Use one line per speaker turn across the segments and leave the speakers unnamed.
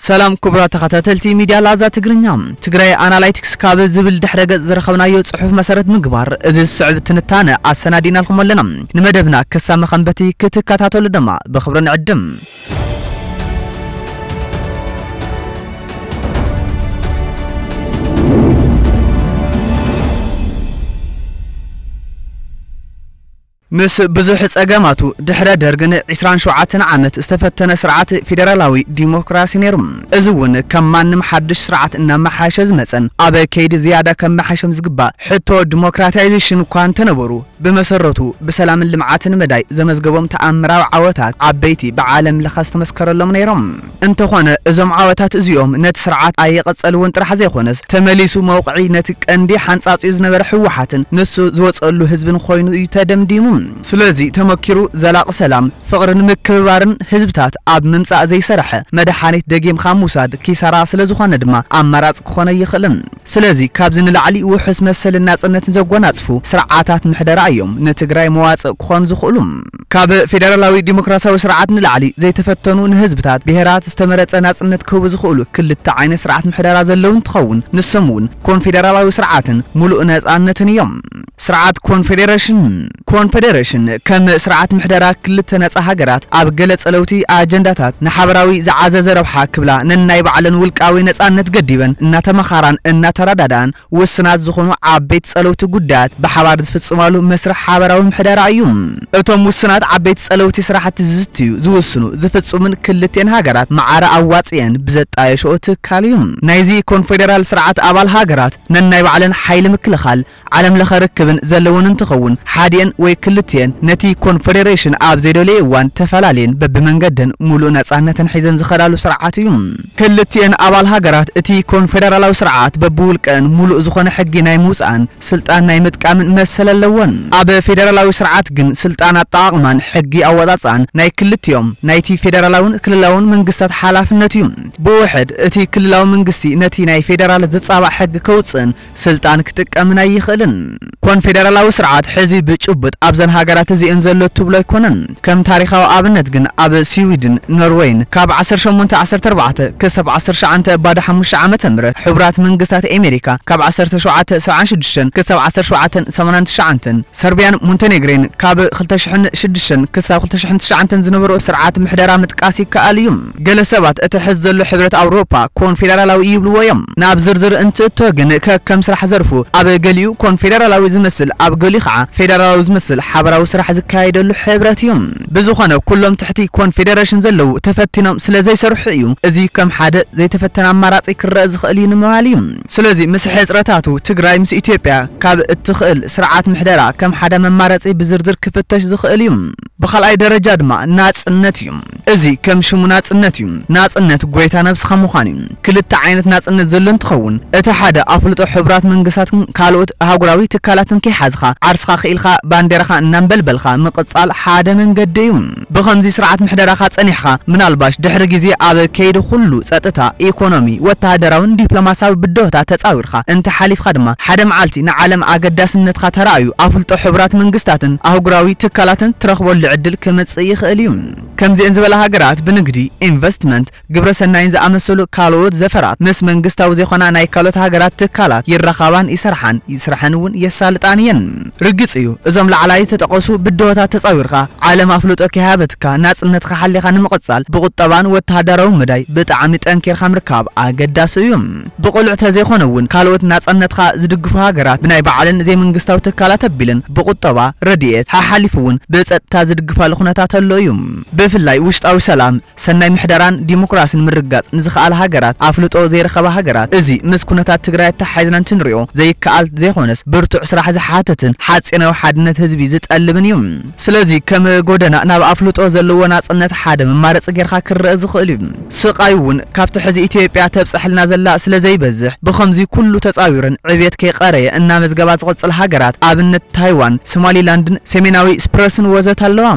ሰላም ክቡራት ተኸታተልቲ ሚድያ ላዛ ትግርኛ፣ ትግራይ ኣናላይቲክስ ካብ ዝብል ድሕረ ገፅ ዝረኸብናዮ ፅሑፍ መሰረት ምግባር እዚ ዝስዕብ ትንታነ ኣሰናዲእናልኩም ኣለና። ንመደብና ክሳብ መኸንበቲ ክትከታተሉ ድማ ብኽብሪ ንዕድም። ምስ ብዙሕ ጸገማቱ፣ ድሕረ ደርግ ን ዕስራን ሸውዓተን ዓመት ዝተፈተነ ስርዓት ፌደራላዊ ዲሞክራሲ ነይሩ። እዚ እውን ከም ማንም ሓድሽ ስርዓት እናመሓየሸ ዝመጸን ኣብ ከይዲ ዝያዳ ከመሓይሾም ዝግባእ ሕቶ ዲሞክራታይዜሽን እኳ እንተነበሩ፣ ብመሰረቱ ብሰላምን ልምዓትን መዳይ ዘመዝገቦም ተኣምራዊ ዓወታት ዓበይቲ ብዓለም ለኸ ዝተመስከረሎም ነይሮም። እንተኾነ እዞም ዓወታት እዚኦም ነቲ ስርዓት ኣየቐጸልዎን ጥራሕ ዘይኮነስ ተመሊሱ መውቕዒ ነቲ ቀንዲ ሓንጻጺኡ ዝነበረ ህወሓትን ንሱ ዝወጸሉ ህዝብን ኮይኑ እዩ ተደምዲሙ። ስለዚ ተመኪሩ ዘላቒ ሰላም፣ ፍቕርን ምክብባርን ህዝብታት ኣብ ምምጻእ ዘይሰረሐ መድሓኒት ደጊምካ ምውሳድ ኪሳራ ስለዝኾነ ድማ ኣማራጺ ክኾን ኣይኽእልን። ስለዚ ካብዚ ንላዕሊ ውሑስ መሰልን ናጽነትን ዘጎናጽፉ ስርዓታት ምሕደራ እዮም ንትግራይ መዋጽእ ክኾኑ ዝኽእሉ። ካብ ፌደራላዊ ዲሞክራሲያዊ ስርዓት ንላዕሊ ዘይተፈተኑ ንህዝብታት ብሄራት ዝተመረፀ ናፅነት ክህቡ ዝኽእሉ ክልተ ዓይነት ስርዓት ምሕደራ ዘለዉ እንትኸውን ንሶም እውን ኮንፌደራላዊ ስርዓትን ሙሉእ ነፃነትን እዮም። ስርዓት ኮንፌዴሬሽን ኮንፌዴሬሽን ከም ስርዓት ምሕደራ ክልተ ነፃ ሃገራት ኣብ ገለ ፀለውቲ ኣጀንዳታት ንሓበራዊ ዝዓዘዘ ረብሓ ክብላ ነናይ ባዕለን ውልቃዊ ነፃነት ገዲበን እናተመኻራን እናተረዳድኣን ውስናት ዝኾኑ ዓበይቲ ጸለውቲ ጉዳያት ብሓባር ዝፍጽማሉ መስርሕ ሓበራዊ ምሕደራ እዩ። እቶም ውስናት ዓበይቲ ጸለውቲ ስራሕቲ ዝዝትዩ፣ ዝውስኑ፣ ዝፍጽሙን ክልቲኤን ሃገራት ማዕረ ኣዋጺኤን ብዘጣየሽኦ ትካል እዩ። ናይዚ ኮንፌደራል ስርዓት ኣባል ሃገራት ነናይ ባዕለን ሓይሊ ምክልኻል፣ ዓለም ለኸ ርክብን ዘለወን እንትኸውን ሓዲኤን ወይ ክልቲኤን ነቲ ኮንፌደሬሽን ኣብ ዘይደልየኦ እዋን ተፈላልየን በብመንገደን ሙሉእ ነጻነተን ሒዘን ዝኸዳሉ ስርዓት እዩ። ክልቲኤን ኣባል ሃገራት እቲ ኮንፌደራላዊ ስርዓት በብውልቀን ሙሉእ ዝኾነ ሕጊ ናይ ምውፃእን ስልጣን ናይ ምጥቃምን መሰል ኣለወን። ኣብ ፌደራላዊ ስርዓት ግን ስልጣን ኣጠቓቕማን ሕጊ ኣወፃፅኣን ናይ ክልቲኦም ናይቲ ፌደራላውን ክልላውን መንግስታት ሓላፍነት እዩ። ብውሕድ እቲ ክልላዊ መንግስቲ ነቲ ናይ ፌደራል ዝፃባእ ሕጊ ከውፅእን ስልጣን ክጥቀምን ኣይኽእልን። ኮንፌደራላዊ ስርዓት ሕዚ ብጭቡጥ ኣብዘን ሃገራት እዚኤን ዘሎ እትብሎ ኣይኮነን። ከም ታሪኻዊ ኣብነት ግን ኣብ ስዊድን፣ ኖርወይን ካብ ዓሰርተ ሸሞንተ ዓሰርተ ኣርባዕተ ክሳብ ዓሰርተ ትሽዓተ ባዶ ሓሙሽተ ዓመተ ምህረት ሕቡራት መንግስታት ኤሜሪካ ካብ ዓሰርተ ሸውዓተ ሰብዓን ሽዱሽተን ክሳብ ዓሰርተ ሸውዓተ ሰማንያን ትሽዓንተን ሰርብያን ሞንተኔግሬን ካብ ክልተ ሽሕን ሽዱሽተን ክሳብ ክልተ ሽሕን ትሽዓንተን ዝነበሮ ስርዓት ምሕደራ ምጥቃስ ይከኣል እዩ። ገለ ሰባት እቲ ሕዚ ዘሎ ሕብረት ኣውሮፓ ኮንፌደራላዊ እዩ ይብልዎ እዮም። ናብ ዝርዝር እንትእቶ ግን ከከም ስራሕ ዘርፉ ኣብ ገሊኡ ኮንፌደራላዊ ዝመስል ኣብ ገሊኡ ከዓ ፌደራላዊ ዝመስል ሓበራዊ ስራሕ ዝካየደሉ ሕብረት እዩ። ብዝኾነ ኩሎም ትሕቲ ኮንፌደረሽን ዘለዉ ተፈቲኖም ስለ ዘይሰርሑ እዩ እዚ ከም ሓደ ዘይተፈተነ ኣማራፂ ክረኣ ዝኽእል እዩ ንምባል እዩ። ስለዚ ምስ ሕፅረታቱ ትግራይ ምስ ኢትዮጵያ ካብ እትኽእል ስርዓት ምሕደራ ከም ሓደ መማረፂ ብዝርዝር ክፍተሽ ዝኽእል እዩ። ብኻልኣይ ደረጃ ድማ ናጽነት እዩ። እዚ ከም ሽሙ ናጽነት እዩ። ናጽነት ጎይታ ነብስኻ ምዃን እዩ። ክልተ ዓይነት ናጽነት ዘሎ እንትኸውን እቲ ሓደ ኣፍልጦ ሕቡራት መንግስታትን ካልኦት ኣህጉራዊ ትካላትን ከይሓዝኻ ዓርስኻ ክኢልካ ባንዴራኻ እናንበልበልካ ምቕጻል ሓደ መንገዲ እዩ። ብኸምዚ ስርዓት ምሕደራኻ ጸኒሕኻ ምናልባሽ ድሕሪ ግዜ ኣብ ከይዲ ኩሉ ጸጥታ፣ ኢኮኖሚ፣ ወተሃደራዊን ዲፕሎማሲያዊ ብድሆታት ተጻዊርካ፣ ኢኻ እንተ ሓሊፍካ ድማ ሓደ መዓልቲ ንዓለም ኣገዳስነትካ ተራእዩ ኣፍልጦ ሕቡራት መንግስታትን ኣህጉራዊ ትካላትን ትረኽበሉ ዕድል ክመጽእ ይኽእል እዩ። ከምዚኤን ዝበላ ሃገራት ብንግዲ፣ ኢንቨስትመንት፣ ግብረ ሰናይን ዝኣመሰሉ ካልኦት ዘፈራት ምስ መንግስታዊ ዘይኮና ናይ ካልኦት ሃገራት ትካላት ይራኻባን ይሰርሓን ስረሐን እውን የሳልጣን እየን። ርግጽ እዩ እዞም ላዕላይ ዝተጠቐሱ ብድሆታት ተጻዊርካ ዓለም ኣፍልጦ ከይሃበትካ ናጽነትካ ሓሊኻ ንምቕጻል ብቑጠባን ወተሃዳራውን መዳይ ብጣዕሚ ጠንኪርካ ምርካብ ኣገዳሲ እዩ። ብቕሉዕ ተዘይኮነ ውን ካልኦት ናጸነትካ ዝድግፉ ሃገራት ብናይ ባዕለን ዘይመንግስታዊ ትካላት ኣቢለን ብቑጠባ፣ ረድኤት፣ ሓሓሊፉ ውን ብጸጥታ ዝድግፋሉ ኩነታት ኣሎ እዩ። ብፍላይ ውሽጣዊ ሰላም፣ ሰናይ ምሕደራን ዲሞክራስን ምርግጋጽ ንዝኸኣላ ሃገራት፣ ኣፍልጦ ዘይረኸባ ሃገራት እዚ ምስ ኩነታት ትግራይ ኣተሓሒዝና እንትንሪኦ ዘይከኣል ዘይኾነስ ብርቱዕ ስራሕ ዝሓትትን ሓጺናዊ ሓድነት ህዝቢ ዝጠልብን እዩ። ስለዚ ከም ጎደና ናብ ኣፍልጦ ዘለዎ ናጽነት ሓደ መማረጺ ጌርካ ክረኣ ዝኽእል እዩ። ስቃይ ውን ካብቲ ሕዚ ኢትዮጵያ ተብፀሐልና ዘላ ስለ ዘይበዝሕ ብኸምዙይ ኩሉ ተፃዊረን ዕብየት ከይቀረየ እናመዝገባ ዝቕፅል ሃገራት ኣብነት ታይዋን ሶማሊላንድን ሰሜናዊ ስፕረስን ወዘተ ኣለዋ።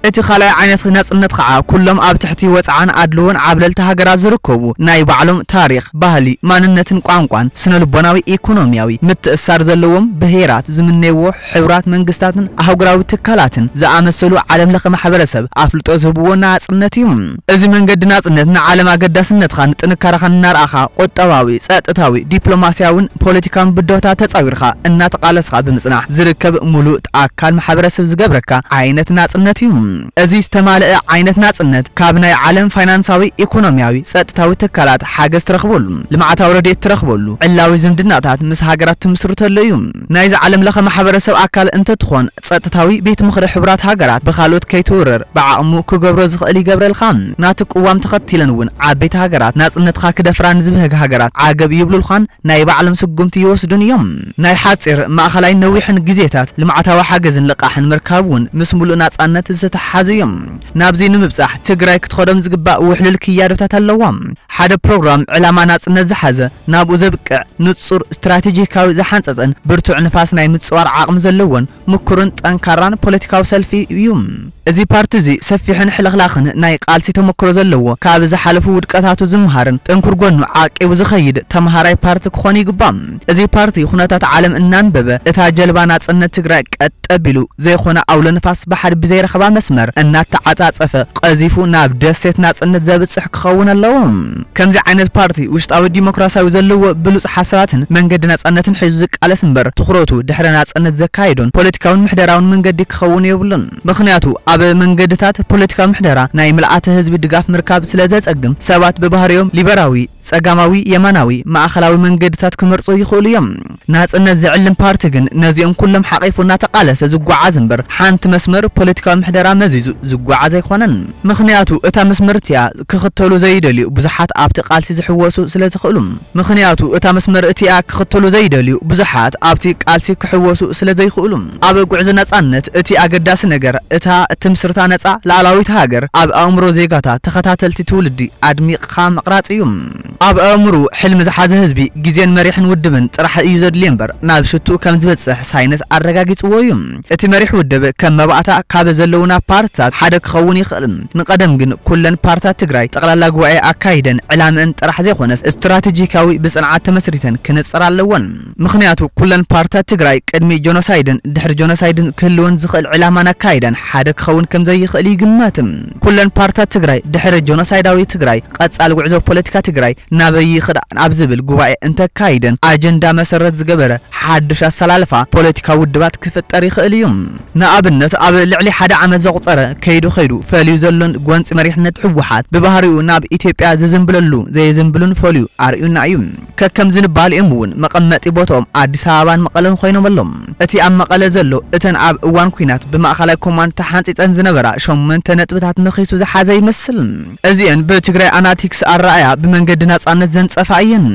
እቲ ካልኣይ ዓይነት ናፅነት ኻዓ ኩሎም ኣብ ትሕቲ ወፅዓን ኣድልዎን ዓብለልቲ ሃገራት ዝርከቡ ናይ ባዕሎም ታሪኽ፣ ባህሊ፣ ማንነትን ቋንቋን ስነልቦናዊ ኢኮኖሚያዊ ምትእስሳር ዘለዎም ብሄራት ዝምነይዎ ሕቡራት መንግስታትን ኣህጉራዊ ትካላትን ዝኣመሰሉ ዓለምለኸ ማሕበረሰብ ኣፍልጦ ዝህብዎ ናጽነት እዩ። እዚ መንገዲ ናጽነት ንዓለም ኣገዳስነትኻን ጥንካረኻን እናርኣኻ ቁጠባዊ፣ ጸጥታዊ፣ ዲፕሎማስያውን ፖለቲካውን ብድሆታት ተጻዊርካ እናተቓለስኻ ብምጽናሕ ዝርከብ ምሉእ ኣካል ማሕበረሰብ ዝገብረካ ዓይነት ናጽነት እዩ። እዚ ዝተማልአ ዓይነት ናጽነት ካብ ናይ ዓለም ፋይናንሳዊ፣ ኢኮኖሚያዊ፣ ጸጥታዊ ትካላት ሓገዝ ትረኽበሉ፣ ልምዓታዊ ረድኤት ትረኽበሉ፣ ዕላዊ ዝምድናታት ምስ ሃገራት ትምስርተሉ እዩ። ናይዚ ዓለም ለኸ ማሕበረሰብ ኣካል እንተትኾን ፀጥታዊ ቤት ምኽሪ ሕቡራት ሃገራት ብኻልኦት ከይትውረር ብዓቕሙ ክገብሮ ዝኽእል ይገብረልኻ። ናቱ ቅዋም ተኸቲለን እውን ዓበይቲ ሃገራት ናፅነትኻ ክደፍራ ንዝብህግ ሃገራት ዓገብ ይብሉልኻን ናይ ባዕሎም ስጉምቲ ይወስዱን እዮም። ናይ ሓፂር፣ ማእኸላይን ነዊሕን ግዜታት ልምዓታዊ ሓገዝን ልቓሕን ምርካብ እውን ምስ ሙሉእ ናፃነት ዝተተሓሓዙ እዮም። ናብዙይ ንምብፃሕ ትግራይ ክትኸዶም ዝግባእ ውሕሉል ክያዶታት ኣለዋ። ሓደ ፕሮግራም ዕላማ ናፅነት ዝሓዘ፣ ናብኡ ዘብቅዕ ንጹር ስትራቴጂካዊ ዝሓንጸጸን ብርቱዕ ንፋስ ናይ ምጽዋር ዓቕሚ ዘለዎን ምኩርን ጠንካራን ፖለቲካዊ ሰልፊ እዩ። እዚ ፓርቲ እዚ ሰፊሕን ሕልኽላኽን ናይ ቃልሲ ተመክሮ ዘለዎ፣ ካብ ዝሓለፉ ውድቀታቱ ዝመሃርን ጥንኩር ጎኑ ዓቂቡ ዝኸይድ ተመሃራይ ፓርቲ ክኾን ይግባእ። እዚ ፓርቲ ኩነታት ዓለም እናንበበ እታ ጀልባ ናጽነት ትግራይ ቀጥ ኣቢሉ ዘይኮነ ኣውሎ ንፋስ ባሕሪ ብዘይረኽባ መስመር እናተዓጻጸፈ ቀዚፉ ናብ ደሴት ናጽነት ዘብጽሕ ክኸውን ኣለዎ። ከምዚ ዓይነት ፓርቲ ውሽጣዊ ዲሞክራሲያዊ ዘለዎ ብሉጽ ሓሳባትን መንገዲ ናጻነትን ሒዙ ዝቃለስ እምበር ትኹረቱ ድሕረ ናጽነት ዘካይዶን ፖለቲካውን ምሕደራውን መንገዲ ክኸውን የብሉን። ምኽንያቱ ኣብ መንገድታት ፖለቲካዊ ምሕደራ ናይ ምልኣተ ህዝቢ ድጋፍ ምርካብ ስለ ዘጸግም ሰባት ብባህሪኦም ሊበራዊ፣ ጸጋማዊ፣ የማናዊ፣ ማእከላዊ መንገድታት ክመርጹ ይኽእሉ እዮም። ናጽነት ዝዕልም ፓርቲ ግን ነዚኦም ኩሎም ሓቚፉ እናተቓለሰ ዝጓዓዝ እምበር ሓንቲ መስመር ፖለቲካዊ ምሕደራ መዚዙ ዝጓዓዝ ኣይኮነን። ምኽንያቱ እታ መስመር'ቲኣ ክኽተሉ ዘይደልዩ ብዙሓት ኣብቲ ቃልሲ ዝሕወሱ ስለ ዝኽእሉ። ምኽንያቱ እታ መስመር'ቲኣ ክኽተሉ ዘይደልዩ ብዙሓት ኣብቲ ቃልሲ ክሕወሱ ስለ ዘይኽእሉ። ኣብ ጉዕዞ ናጻነት እቲ ኣገዳሲ ነገር እታ እትምስርታ ነጻ ልኣላዊት ሃገር ኣብ ኣእምሮ ዜጋታት ተኸታተልቲ ትውልዲ ኣድሚቕኻ ምቕራጽ እዩ። ኣብ ኣእምርኡ ሕልሚ ዝሓዘ ህዝቢ ግዜን መሪሕን ውድብን ጥራሕ እዩ ዘድልዮ እምበር ናብ ሽትኡ ከም ዝበጽሕ ሳይንስ ኣረጋጊጽዎ እዩ። እቲ መሪሕ ውድብ ከም መባእታ ካብ ዘለዉና ፓርትታት ሓደ ክኸውን ይኽእል። ንቀደም ግን ኩለን ፓርትታት ትግራይ ጠቕላላ ጉባኤ ኣካይደን ዕላምእን ጥራሕ ዘይኮነስ ስትራቴጂካዊ ብጽንዓት ተመስሪተን ክንጸራ ኣለወን። ምኽንያቱ ኩለን ፓርትታት ትግራይ ቅድሚ ጆኖሳይድን ድሕሪ ጆኖሳይድን ክህልወን ዝኽእል ዕላማን ኣካይዳን ሓደ ክኸውን ከምዘይኽእል ይግመት። ኩለን ፓርትታት ትግራይ ድሕሪ ጆኖሳይዳዊ ትግራይ ቐፃሊ ጉዕዞ ፖለቲካ ትግራይ ናበይ ይኽዳን ኣብ ዝብል ጉባኤ እንተካይደን ኣጀንዳ መሰረት ዝገበረ ሓዱሽ ኣሰላልፋ ፖለቲካዊ ውድባት ክፍጠር ይኽእል እዩ። ንኣብነት ኣብ ልዕሊ ሓደ ዓመት ዘቑፀረ ከይዱ ከይዱ ፈልዩ ዘሎን ጎንፂ መሪሕነት ህወሓት ብባህሪኡ ናብ ኢትዮጵያ ዝዝምብለሉ ዘየዝምብሉን ፈልዩ ኣርእዩና እዩ። ከከም ዝንባሌኦም እውን መቐመጢ ቦትኦም ኣዲስ ኣበባን መቐለን ኾይኖም ኣሎም። እቲ ኣብ መቐለ ዘሎ እተን ኣብ እዋን ኲናት ብማእኸላይ ኮማንድ ተሓንፂፀን ዝነበራ ሸሞንተ ነጥብታት ነኺሱ ዝሓዘ ይመስል። እዚኤን ብትግራይ ኣናቲክስ ኣረኣእያ ብመንገዲ ናፃነት ዘንፀፋ እየን።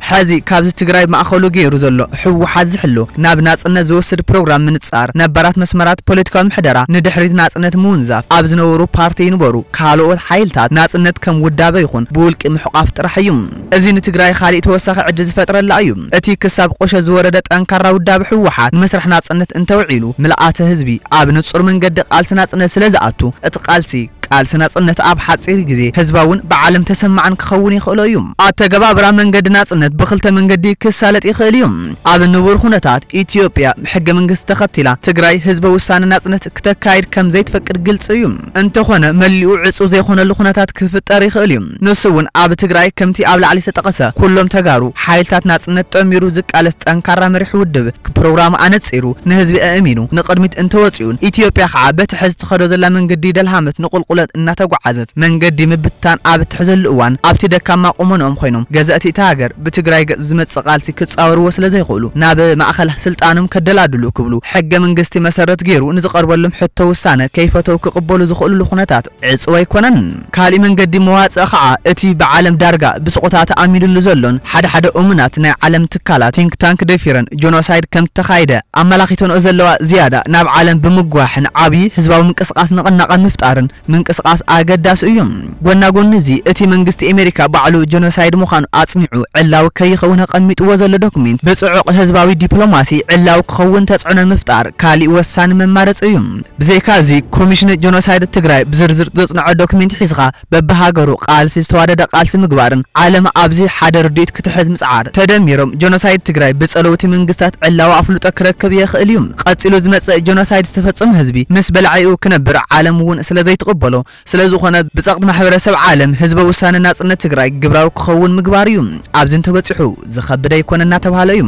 ሐዚ ካብዚ ትግራይ ማእኸሉ ገይሩ ዘሎ ህወሓት ዝሕሉ ናብ ናፅነት ዝወስድ ፕሮግራም ምንፃር፣ ነባራት መስመራት ፖለቲካዊ ምሕደራ ንድሕሪት ናፅነት ምውንዛፍ፣ ኣብ ዝነበሩ ፓርቲ ይንበሩ ካልኦት ሓይልታት ናፅነት ከም ውዳበ ይኹን ብውልቂ ምሕቋፍ ጥራሕ እዩ። እዚ ንትግራይ ኻሊእ ተወሳኺ ዕድል ዝፈጥረላ እዩ። እቲ ክሳብ ቁሸት ዝወረደ ጠንካራ ውዳበ ህወሓት ንመስርሕ ናፅነት እንተውዒሉ ምልኣተ ህዝቢ ኣብ ንፁር መንገዲ ቃልሲ ናፅነት ስለዝኣቱ እቲ ቃልሲ ቃልሲ ናፅነት ኣብ ሓፂር ግዜ ህዝባውን ብዓለም ተሰማዕን ክኸውን የኽእሎ እዩ። ኣተገባብራ መንገዲ ናፅነት ብኽልተ መንገዲ ክሳለጥ ይኽእል እዩ። ኣብ ንቡር ኹነታት ኢትዮጵያ ሕገ መንግስቲ ተኸቲላ ትግራይ ህዝበ ውሳነ ናፅነት ክተካይድ ከምዘይትፈቅድ ግልፂ እዩ። እንተኾነ መሊኡ ዕጹው ዘይኾነሉ ኩነታት ክፍጠር ይኽእል እዩ። ንሱ እውን ኣብ ትግራይ ከምቲ ኣብ ላዕሊ ዝተጠቐሰ ኩሎም ተጋሩ ሓይልታት ናጽነት ጠሚሩ ዝቃለስ ጠንካራ መሪሕ ውድብ ክፕሮግራሙ ኣነጺሩ ንህዝቢ ኣእሚኑ ንቕድሚት እንተወጺኡን ኢትዮጵያ ከዓ በቲ ሕዚ ትኸዶ ዘላ መንገዲ ደልሃመት ንቑልቑለት እናተጓዓዘት መንገዲ ምብትታን ኣብ እትሕዘሉ እዋን ኣብቲ ደካማ ቁመንኦም ኾይኖም ገዘእቲ እታ ሃገር ብትግራይ ገፅ ዝመፅእ ቃልሲ ክፃወርዎ ስለ ዘይኽእሉ ናብ ማእኸል ስልጣኖም ከደላድሉ ክብሉ ሕገ መንግስቲ መሰረት ገይሩ ንዝቐርበሎም ሕቶ ውሳነ ከይፈተው ክቕበሉ ዝኽእልሉ ኩነታት ዕፁው ኣይኮነን። ካሊእ መንገዲ መዋፅኢ ከዓ እቲ ብዓለም ዳርጋ ብስቕታ ተኣሚንሉ ዘሎን ሓደ ሓደ እሙናት ናይ ዓለም ትካላት፣ ቲንክ ታንክ፣ ደፊረን ጆኖሳይድ ከም ዝተኻይደ ኣመላኺተንኦ ዘለዋ ዝያዳ ናብ ዓለም ብምጉዋሕን ዓብዪ ህዝባዊ ምንቅስቓስ ንቕናቐ ምፍጣርን ምንቅስቓስ ኣገዳሲ እዩ። ጎና ጎኒ እዚ እቲ መንግስቲ ኤሜሪካ ባዕሉ ጀኖሳይድ ምዃኑ ኣጽኒዑ ዕላዊ ከይኸውን ኣቐሚጥዎ ዘሎ ዶክሜንት ብጽዑቕ ህዝባዊ ዲፕሎማሲ ዕላዊ ክኸውን ተጽዕኖ ምፍጣር ካሊእ ወሳኒ መማረጺ እዩ። ብዘይካ እዚ ኮሚሽን ጀኖሳይድ ትግራይ ብዝርዝር ዘጽንዖ ዶክሜንት ሒዝኻ በብሃገሩ ቃልሲ ዝተዋደደ ቃልሲ ምግባርን ዓለም ኣብዚ ሓደ ርድኢት ክትሕዝ ምጽዓር፣ ተደሚሮም ጀኖሳይድ ትግራይ ብጸለውቲ መንግስታት ዕላዊ ኣፍልጦ ክረክብ የኽእል እዩ። ቐጺሉ ዝመጽእ ጀኖሳይድ ዝተፈጸሞ ህዝቢ ምስ በላዒኡ ክነብር ዓለም እውን ስለዘይትቕበሎ፣ ስለዝኾነ ብጸቕጢ ማሕበረሰብ ዓለም ህዝበ ውሳነ ናጽነት ትግራይ ግብራዊ ክኸውን ምግባር እዩ። ኣብዚ እንተበጺሑ ዝኸብድ ኣይኮነን እናተብሃለ እዩ።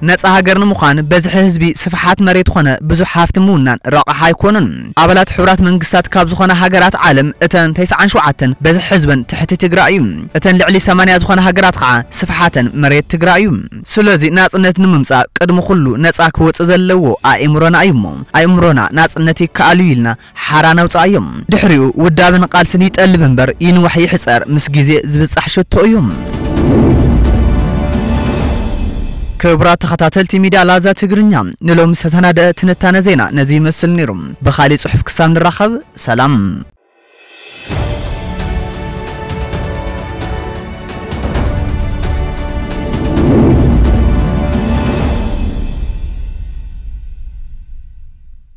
ነጻ ሃገር ንምዃን በዝሒ ህዝቢ፣ ስፍሓት መሬት ኾነ ብዙሕ ሃፍቲ ምውናን ረቛሒ ኣይኮኑን። ኣባላት ሕቡራት መንግስታት ካብ ዝኾና ሃገራት ዓለም እተን ተስዓን ሸውዓተን በዝሒ ህዝበን ትሕቲ ትግራ እዩ። እተን ልዕሊ ሰማንያ ዝኾና ሃገራት ኸዓ ስፍሓተን መሬት ትግራ እዩ። ስለዚ ናጽነት ንምምጻእ ቅድሚ ኹሉ ነጻ ክወጽእ ዘለዎ ኣእምሮና እዩ እሞ ኣእምሮና ናጽነት ይከኣል እዩ ኢልና ሓራ ነውጽኣዮ። ድሕሪኡ ውዳበን ቓልስን ይጠልብ እምበር ይንዋሕ ይሕጸር ምስ ግዜ ዝብጻሕ ሸቶ እዩ። ክቡራት ተኸታተልቲ ሚድያ ላዛ ትግርኛ ንሎሚ ዝተሰናደኣ ትንታነ ዜና ነዚ ይመስል ነይሩ። ብኻሊእ ጽሑፍ ክሳብ ንራኸብ ሰላም።